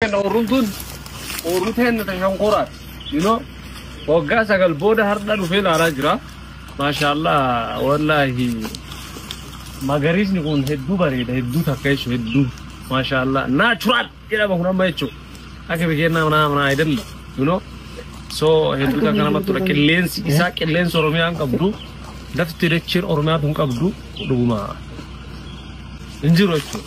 Kenna ooruun tun ooruu teenna ta shonkoraati. Ino waggaa sagal booda hardha dhufee ilaalaa jira. Maashaallah wallaahi magariisni kun hedduu bareeda hedduu takka jechuun hedduu maashaallah naachuraal jedhama kun amma jechuun akka bikeennaa manaa manaa ayidalle ino so hedduu takka namatti tola qilleensi isaa qilleensi oromiyaan qabdu lafti dachiin oromiyaa tun qabdu dhuguma hin jiru jechuudha.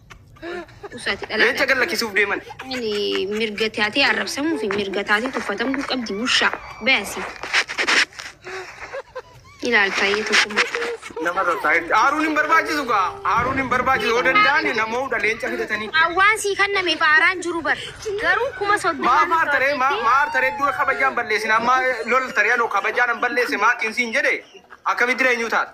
Usaati dhalaa Leenca gad lakkisuuf deeman. Ani mirga taatee arrabsamuu fi mirga taatee tuffatamuu qabdi bushaa baasi. Ilaal taa'ee tokkummaa. Nama taa'ee aaruun hin barbaachisu gaa aaruun hin barbaachisu yoo danda'an namoota leenca fidatanii. Waan sii kanname faaraan jiru bar. Garuu kuma soddoma. Maa maar taree maa maar taree dura kabajaan balleessin amma lol taree anoo kabajaan hin balleesse maatiin siin jedhe akkamitti eenyu taata.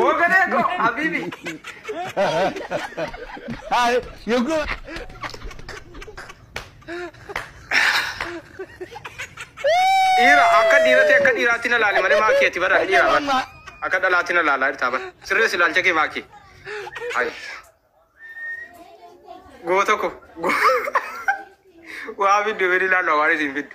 Hoogganee koo Habibi. Dhiira akka dhiiraatti akka dhiiraatti na laali malee maakii ati bara dhiira bara. Akka dhalaatti na laalaa jirtaa bara. Sirrees ilaalcha kee maakii. Ayi. Goota ko. Waa fiddu fedhi laannu awaanis hin fiddu.